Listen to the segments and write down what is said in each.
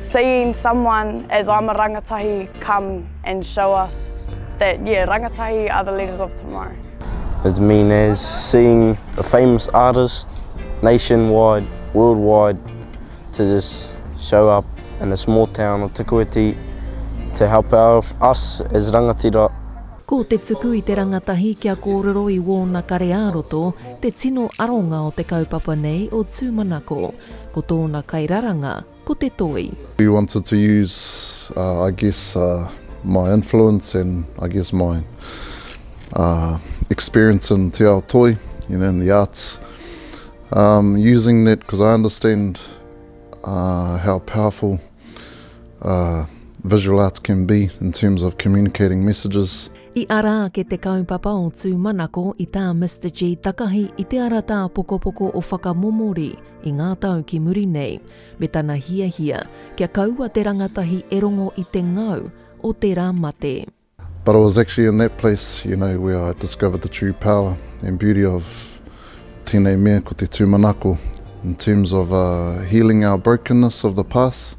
Seeing someone as I'm a rangatahi come and show us that yeah rangatahi are the leaders of tomorrow. It mean as seeing a famous artist nation wide, world wide to just show up in a small town of Te Koetī to help our, us as rangatira. Ko te tuku i te rangatahi kia kōrero i wōna kare ā-roto te tino aronga o te kaupapa nei o tūmanako. Ko tōna kairaranga ko te toi. We wanted to use uh I guess uh my influence and I guess my uh experience in te ao toi, you know, in the arts, um using that because I understand uh how powerful uh visual arts can be in terms of communicating messages. I ara ake te kaupapa o Tūmanako i tā Mister G takahi i te ara tāpokopoko o whakamomori i ngā tau ki muri nei, me tana hiahia kia kaua te rangatahi e rongo i te ngau o tērā mate. But it was actually in that place, you know, where I discovered the true power and beauty of tēnei mea ko te tūmanako in terms of healing our brokenness of the past,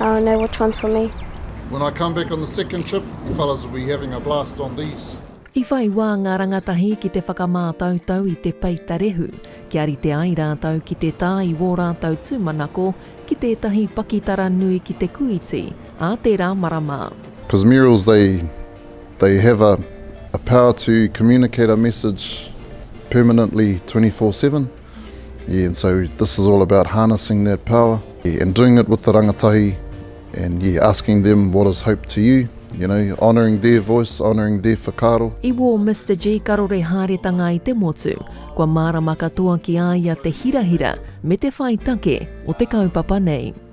I don't know which one's for me. When I come back on the second trip, you fellas will be having a blast on these. I whai wā ngā rangatahi ki te whakamātautau i te peita rehu, kia rite ai rātou ki te tā i wō rātou tūmanako ki tētahi pakitara nui ki te kūiti ā tērā marama. Because murals they they have a a power to communicate a message permanently twenty four seven. Yeah, and so this is all about harnessing that power yeah, and doing it with the rangatahi and yeah, asking them what is hope to you, you know, honouring their voice, honouring their whakaaro. I wō Mr G karore haeretanga i te motu, kua mārama katoa ki a ia te hirahira me te whai take o te kaupapa nei.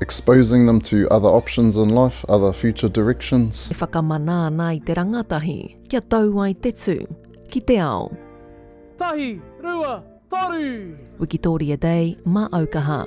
Exposing them to other options in life, other future directions. E whakamana ana i te rangatahi kia tau ai te tū ki te ao. Tahi, rua, toru! Wikitoria Day ma Aukaha.